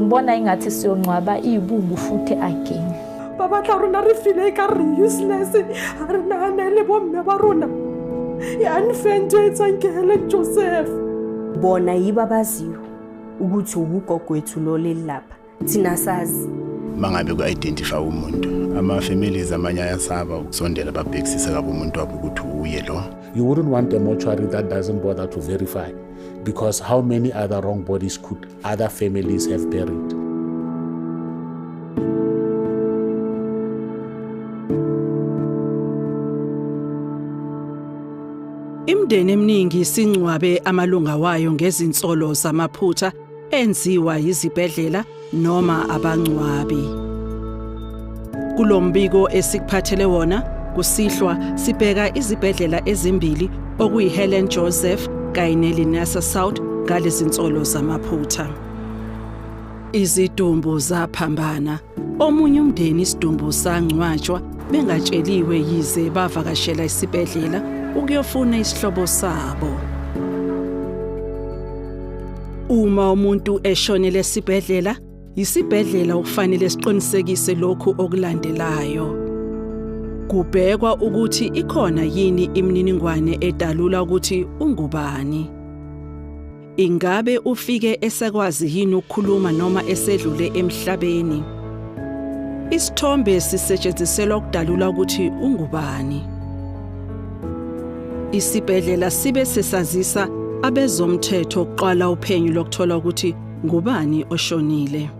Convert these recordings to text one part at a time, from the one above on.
ngibona ingathi siyongcwaba iyibungu futhi again ba batla rona re file ka re useless a re naganele bomme ba rona e unfento e tsang ke helen joseph bona yibo abaziyo ukuthi uwugogwethu lo leli lapha thina sazi mangabe ku-identify umuntu ama-families amanye ayasaba ukusondela babhekisise kabi umuntu wabo ukuthi uye lo you wouldn't want a mortuary that doesn't bother to verify because how many other wrong bodies could other families have buried? Imindeni eminingi singcwabe amalunga wayo ngezinsolo zamaphutha enziwa yizibhedlela noma abangcwabi. Kulombiko esikuphathele wona kusihlwa sibheka izibhedlela ezimbili okuyiHelen Joseph kanye neLinasa South ngalezinsolo zamaphutha. Izidumbu zaphambana Omunye umndeni isidumbu sangcwatshwa bengatsheliwe yize bavakashela isibhedlela ukuyofuna isihlobo sabo. Uma umuntu eshonele esibhedlela, yisibhedlela okufanele siqinisekise lokhu okulandelayo. Kubhekwa ukuthi ikhona yini imininingwane edalula ukuthi ungubani. Ingabe ufike esekwazi yini ukukhuluma noma esedlule emhlabeni? Isithombe sisetshenziselwa ukudalula ukuthi ungubani. Isibhedlela sibe sesazisa abezomthetho ukuqala uphenyo lokuthola ukuthi ngubani oshonile.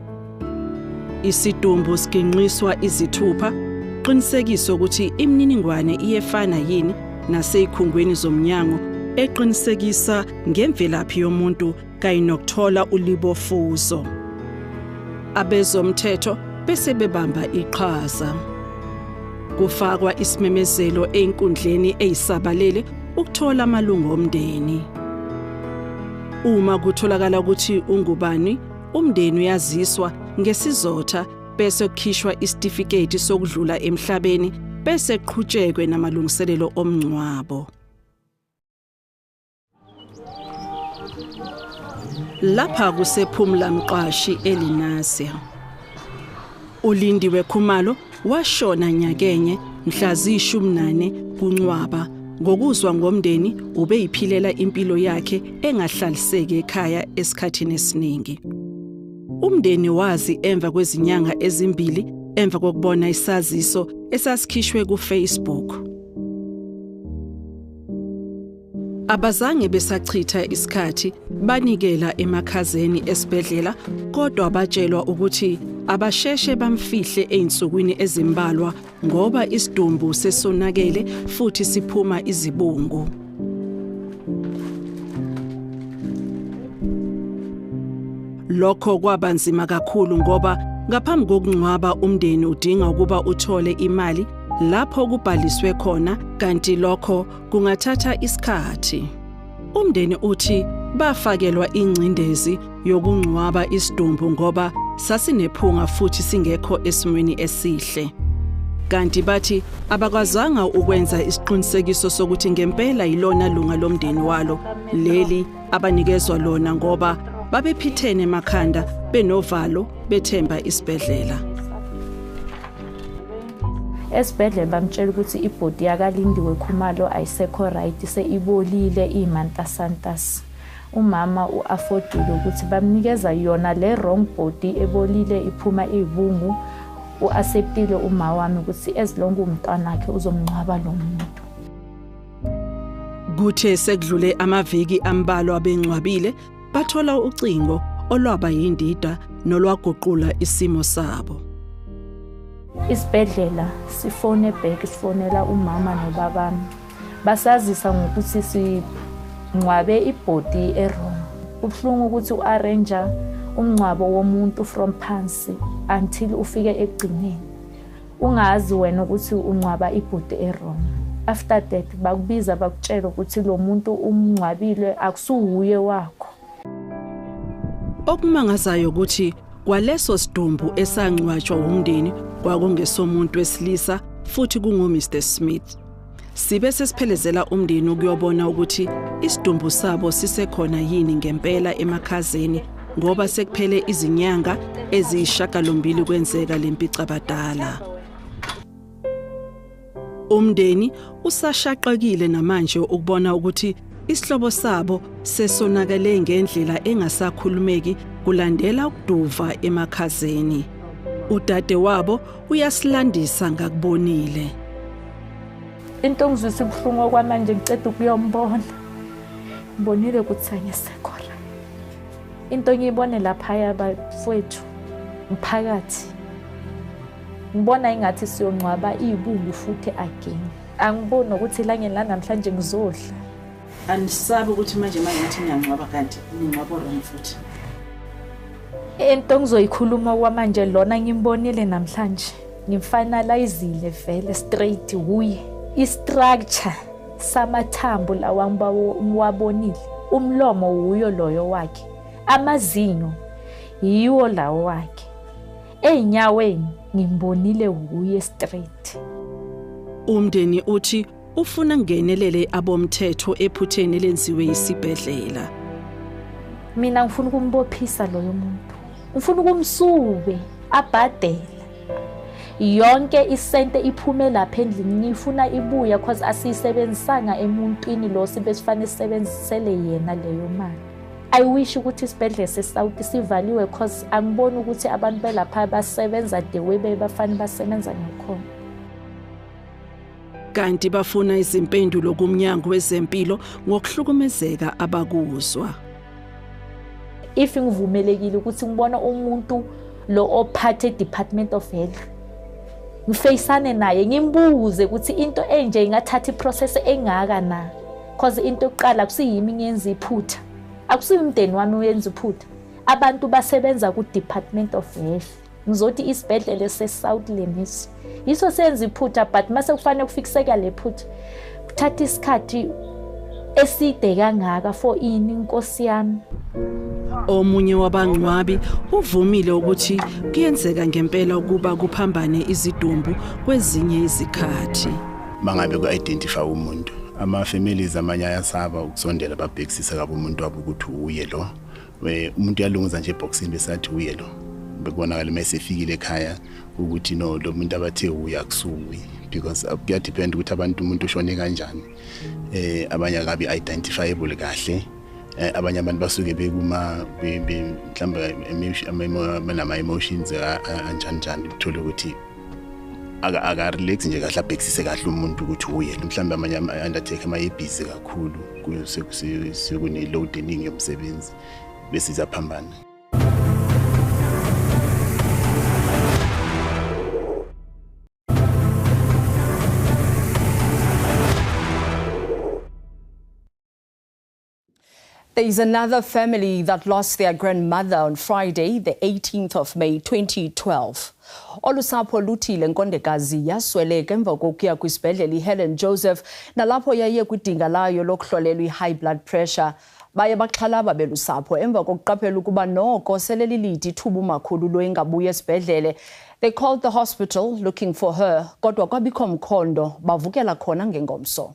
Isidumbu siginqiswa izithupha qinisekisa ukuthi imininingwane iyefana yini nasezikhungweni zomnyango eqinisekisa ngemvelaphi yomuntu kanye nokuthola ulibofuzo. Abezomthetho bese bebamba iqhaza. Kufakwa isimemezelo einkundleni eyisabalele ukuthola amalungu omndeni. Uma kutholakala ukuthi ungubani Umndeni uyaziswa ngesizotha bese kukhishwa isitifiketi sokudlula emhlabeni bese qhutshekwe namalungiselelo omngcwabo. Lapha kusephumla mqashi eLinasia. uLindiwe Khumalo washona nyakenye mhla ziyishumi nane kuNcwaba ngokuzwa ngomndeni ubeyiphilela impilo yakhe engahlaliseki ekhaya esikhathini esiningi umndeni wazi emva kwezinyanga ezimbili emva kokubona isaziso esasikhishwe kuFacebook Abazange besachitha isikhathi banikela emakhazeni esibhedlela kodwa batshelwa ukuthi abasheshe bamfihle ezinsukwini ezimbalwa ngoba isidumbu sesonakele futhi siphuma izibungu. Lokho kwaba nzima kakhulu ngoba ngaphambi kokungcwaba umndeni udinga ukuba uthole imali lapho kubhaliswe khona kanti lokho kungathatha isikhathi. Umndeni uthi bafakelwa ingcindezi yokungcwaba isidumbu ngoba sasinephunga futhi singekho esimweni esihle. Kanti bathi abakwazanga ukwenza isiqinisekiso sokuthi ngempela yilona lunga lomndeni walo leli abanikezwa lona ngoba babephithene emakhanda benovalo bethemba isibhedlela. esibhedlela bamtshela ukuthi ibhodi yakalindiwe khumalo ayisekho right seyibolile iyimantasantas umama u-afodile ukuthi bamnikeza yona le wrong body ebolile iphuma iyibungu u-aseptile uma wami ukuthi ezilonke umntwana wakhe uzomngcwaba lo muntu kuthe sekudlule amaviki ambalwa bengcwabile bathola ucingo olwaba yindida nolwaguqula isimo sabo. Isibhedlela sifone back sifonela umama nobabami basazisa ngokuthi singcwabe ibhodi erong kubuhlungu ukuthi u-arrange umngcwabo womuntu from phansi until ufike ekugcineni ungazi wena ukuthi ungcwaba ibhuti erong after that bakubiza bakutshela ukuthi lo muntu umngcwabile akusuwuye wakho okumangazayo ukuthi kwaleso sidumbu esangcwatshwa wumndeni kwakungesomuntu wesilisa futhi kungu-mr smith Sibe sesiphelezela umndeni ukuyobona ukuthi isidumbu sabo sisekhona yini ngempela emakhazeni ngoba sekuphele izinyanga eziyishagalombili kwenzeka lempicabadala. Umndeni usashaqekile namanje ukubona ukuthi isihlobo sabo sesonakele ngendlela engasakhulumeki kulandela ukuduva emakhazeni. Udade wabo uyasilandisa ngakubonile into ngizwisa ubuhlungu okwamanje ngiceda ukuyombona ngibonile ukuthi sangisekho into ngiyibone laphaya bafowethu mphakathi ngibona ingathi siyongcwaba iyibungu futhi again angiboni ukuthi elangeni lanamhlanje ngizodla andisabi ukuthi manje manje ngathi niyangcwaba kanti ningcwaba wrong futhi into ngizoyikhuluma kwamanje lona ngimbonile namhlanje ngimfinalizile vele straight wuye istructure samathambo lawa ngiwabonile umlomo wuyo loyo wakhe amazinyo yiwo lawo wakhe ey'nyaweni ngimbonile wuye straight umndeni uthi Ufuna ngenelele abomthetho ephutheni lenziwe isibhedlela. Mina ngifuna ukumbophisa loyo muntu. Ngifuna ukumsuke abhadele. yonke isente iphume lapha endlini ngifuna ibuya cause asiyisebenzisanga emuntwini lo sibe sifanele sisebenzisele yena leyo mali i wish ukuthi isibhedlela sesouth sivaliwe cause angiboni ukuthi abantu belapha basebenza the way bebafanele basebenza ngakhona kanti bafuna izimpendulo kumnyango wezempilo ngokuhlukumezeka abakuzwa if ngivumelekile ukuthi ngibona umuntu lo ophathe department of health ngifeyisane naye ngimbuze ukuthi into enje ingathatha iprocess engaka na cause into yokuqala kusiyimi ngenza iphutha akusiyi umndeni wami uyenza iphutha abantu basebenza ku-department of health ngizothi isibhedlela esesouth lemisi yiso senza iphutha but uma sekufanele kufikiseka le phutha kuthatha isikhathi eside kangaka for ini inkosi yami omunye wabangcwabi uvumile ukuthi kuyenzeka ngempela ukuba kuphambane izidumbu kwezinye izikhathi mangabe ku-identify umuntu ama-families amanye ayasaba ukusondela babhekisise kabi umuntu wabo ukuthi uye lo we umuntu uyalunguza nje eboxini besathi uye lo bekubonakala uma esefikile ekhaya ukuthi no lo muntu abathe uye akusuwi because uh, kuyadepend ukuthi abantu umuntu ushone kanjani eh abanye akabi identifiable kahle eh, abanye abantu basuke bekuma mhlawumbe ama-emotions anjani njani uthole ukuthi aka aka relax nje kahle abhekisise kahle umuntu ukuthi uyena mhlawumbe amanye ama undertaker ama busy kakhulu kuse sekune load eningi yomsebenzi bese izaphambana There is another family that lost their grandmother on Friday, the 18th of May 2012. Olusapho luthi le nkondekazi yasweleka emva kokuya kwisibhedlela iHelen Joseph nalapho yaye kwidinga layo lokuhlolelwa i-high blood pressure. Baye baxhalaba belusapho emva kokuqaphela ukuba noko sele lilide ithuba umakhulu lo engabuya esibhedlele. They called the hospital looking for her kodwa kwabikho mkhondo bavukela khona ngengomso.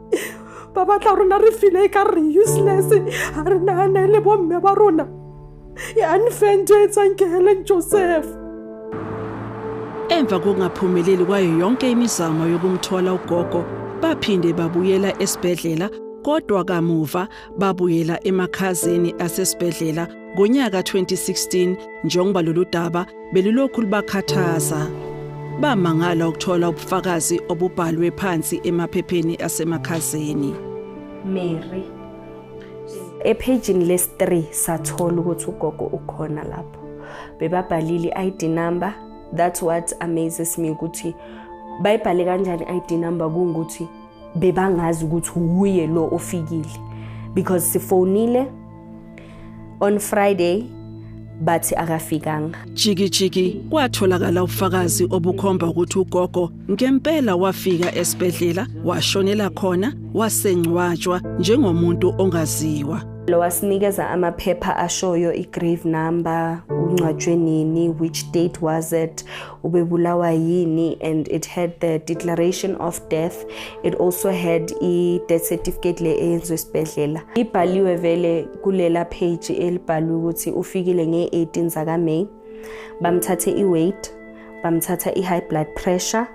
ba batla rona re file ka re useless ga re nagane le bomme ba rona e unfento e tsang ke helen joseph emva kokungaphumeleli kwayo yonke imizamo yokumthola ugogo baphinde babuyela esibhedlela kodwa kamuva babuyela emakhazeni asesibhedlela Ngonyaka 2016 njengoba lolu daba belulokhu lubakhathaza bamangala ukuthola ubufakazi obubhalwe phansi emaphepheni asemakhazeni. Mary ephejini lesi-3 sathola ukuthi ugogo ukhona lapho bebabhalile i-id number that's what amazes me ukuthi bayibhale kanjani i-id number kungukuthi bebangazi ukuthi wuye lo ofikile because sifonile on Friday bathi akafikanga jikijiki kwatholakala ufakazi obukhomba ukuthi ugogo ngempela wafika esibhedlela washonela khona wasengcwatshwa njengomuntu ongaziwa lo wasinikeza amaphepha ashoyo i-grave number uncwatshwe nini which date was it ubebulawa yini and it had the declaration of death it also had i-death certificate le eyenzwe esibhedlela ibhaliwe vele kulela page elibhalwe ukuthi ufikile nge-18 zakamay bamthathe i-weight bamthatha i-high blood pressure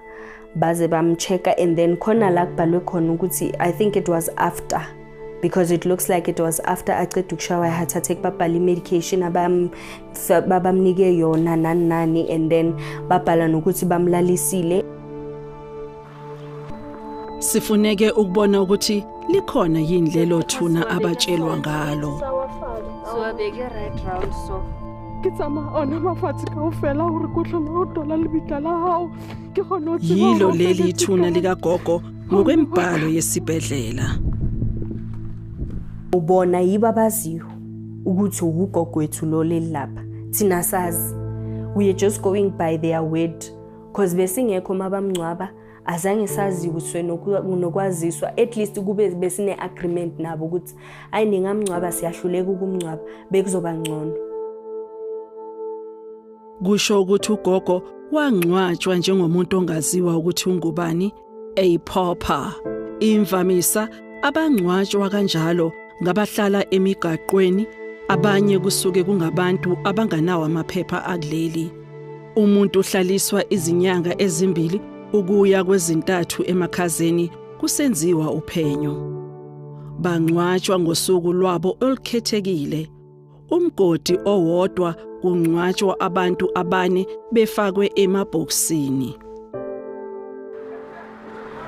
baze bamcheck and then khona la kubhalwe khona ukuthi i think it was after because it looks like it was after aqeda ukushawa i-heart attack babhala i-medication abamnike yona nani nani and then babhala nokuthi bamlalisile sifuneke ukubona ukuthi likhona yini lelo thuna abatshelwa ngalo so abeke right round so ke tsamaya ona mafatshe ka o fela gore ko tlhola o tola lebitla la gago yilo leli ithuna likagogo ngokwembhalo yesibhedlela ubona yibo abaziyo ukuthi ugogo wethu lo leli lapha thina sazi we are just going by their word cause besingekho mabamngcwaba azange saziwiswe nokwaziswa at least kube besine agreement nabo ukuthi ayi ningamngcwaba siyahluleka ukumngcwaba bekuzoba ngcono kusho ukuthi ugogo wangcwatshwa njengomuntu ongaziwa ukuthi ungubani a pauper imvamisa abangcwatshwa kanjalo ngabahlala emigaqweni abanye kusuke kungabantu abanganawo amaphepha akuleli umuntu uhlaliswa izinyanga ezimbili ukuya kwezintathu emakhazeni kusenziwa uphenyo bangcwatshwa ngosuku lwabo olukhethekile umgodi owodwa kungcwatshwa abantu abane befakwe emabhokisini.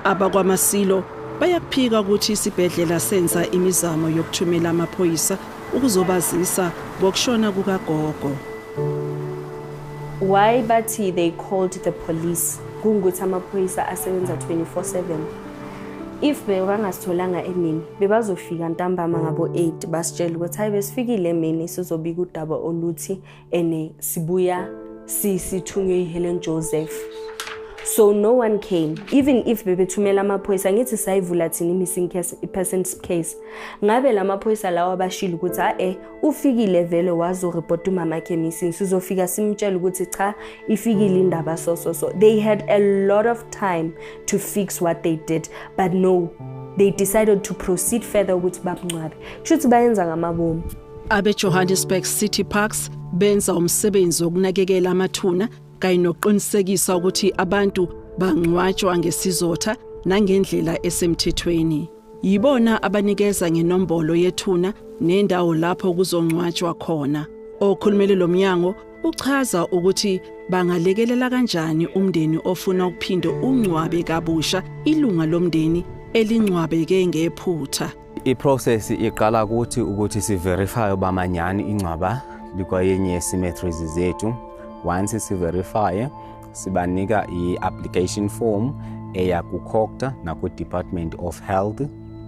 Abakwamasilo bayakuphika ukuthi isibhedlela senza imizamo yokuthumela amaphoyisa ukuzobazisa ngokushona kukagogo. Why bathi they called the police kungukuthi amaphoyisa asebenza 24/7? if bebangasitholanga emini bebazofika ntambama ngabo-8 basitshela ukuthi hhayi besifikile emini sizobika udaba oluthi ene sibuya sithunywe yihelen joseph so no one came even if bebethumela amaphoyisa ngithi sayivula thina i-missing person case ngabe la maphoyisa lawo abashile ukuthi a-e ufikile vele wazoripota umama khe missing sizofika simtshela ukuthi cha ifikile indaba so so so they had a lot of time to fix what they did but no they decided to proceed further ukuthi babungcwabe kusho ukuthi bayenza ngamabomu abejohannesburg city parks benza umsebenzi wokunakekela amathuna kanye nokuqinisekisa ukuthi abantu bangcwatshwa ngesizotha nangendlela esemthethweni Yibona abanikeza ngenombolo yethuna nendawo lapho kuzongcwatshwa khona. Okhulumele lo mnyango uchaza ukuthi bangalekelela kanjani umndeni ofuna ukuphinde ungcwabe kabusha ilunga lomndeni elingcwabeke ngephutha. I-process iqala kuthi ukuthi siverify uba manyani ingcwaba likwayenye ye-cemeteries zethu once siverifye sibanika i-application form eya kucocta nakwidepartment of health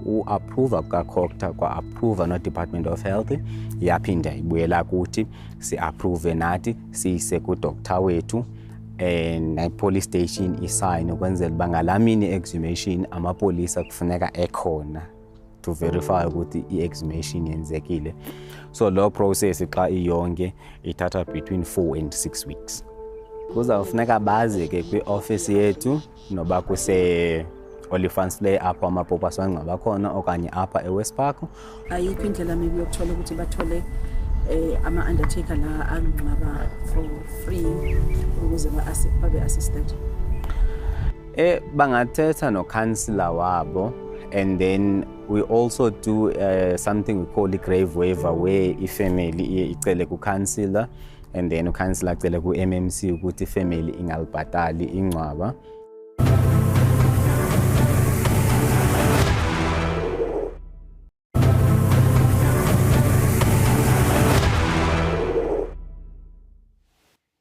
uapprova kukacocta kwa-approva nodepartment of health yaphinda ibuyela kuthi si-approve nathi siyise kudoctor wethu and eh, police station isayine ukwenzela uba ngalamini exhumation amapolisa kufuneka ekhona to verify ukuthi i-exhumation yenzekile so lo process xa iyonke ithatha between 4 and 6 weeks kuzawufuneka baze ke kwi-ofisi yethu noba kuse olifans le apho amapopa sangcwaba khona okanye apha ewest park ayikho indlela mibi yokuthola ukuthi bathole eh, ama-undertaker la angcwaba for free ukuze babe-assisted Eh bangathetha no councillor wabo and then we also do uh, something we call a grave waiver where a family iye icele ku councillor and then ucouncillor acele ku MMC ukuthi family ingalibhatali ingcwaba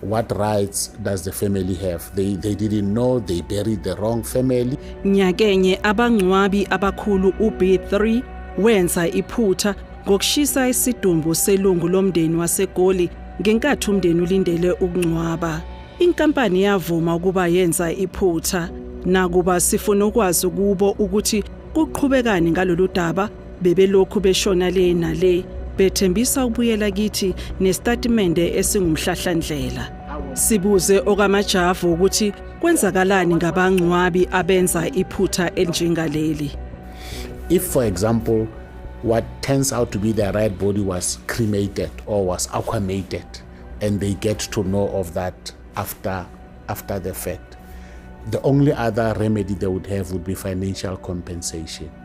What rights does the family have? They, they didn't know they buried the wrong family. Nyakenye abangcwabi abakhulu uB3 wenza iphutha ngokushisa isidumbu selungu lomndeni waseGoli ngenkathi umndeni ulindele ukungcwaba. Inkampani yavuma ukuba yenza iphutha nakuba sifuna ukwazi kubo ukuthi kuqhubekani ngalolu daba Bebelokhu beshona le nale bethembisa ukubuyela kithi nesitatimende esingumhlahlandlela. Sibuze okamajavu ukuthi kwenzakalani ngabangcwabi abenza iphutha elinjengaleli. If for example what turns out to be their right body was cremated or was aquamated and they get to know of that after after the fact the only other remedy they would have would be financial compensation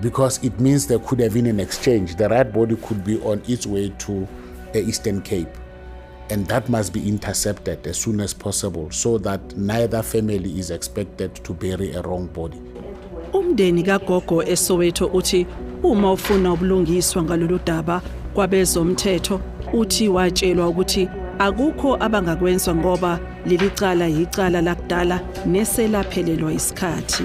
because it means there could have been an exchange. The rat body could be on its way to the uh, Eastern Cape. And that must be intercepted as soon as possible so that neither family is expected to bury a wrong body. Umndeni kaGogo eSoweto uthi uma ufuna ubulungiswa ngalolu daba kwabezomthetho uthi watshelwa ukuthi akukho abangakwenza ngoba leli cala yicala lakudala neselaphelelwa isikhathi.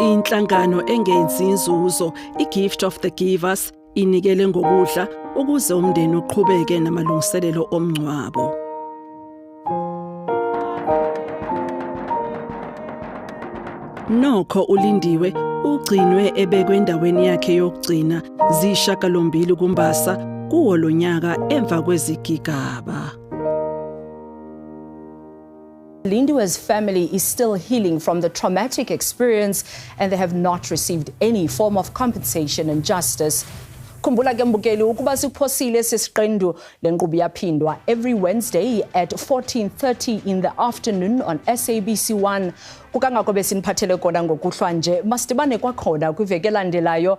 Inhlangano engenzi inzuzo iGift of the Givers inikele ngokudla ukuze umndeni uqhubeke namalungiselelo omngcwabo. Nokho ulindiwe ugcinwe ebekwe endaweni yakhe yokugcina zishakalombili kumbasa kuwo lonyaka emva kwezigigaba. Lindiwe's family is still healing from the traumatic experience and they have not received any form of compensation and justice. Khumbula ke mbukeli ukuba siphosile sesiqendu lenqubo yaphindwa every Wednesday at 14:30 in the afternoon on SABC1 kukangako besiniphathele kona ngokuhlwa nje masibane kwakhona kwiveke landelayo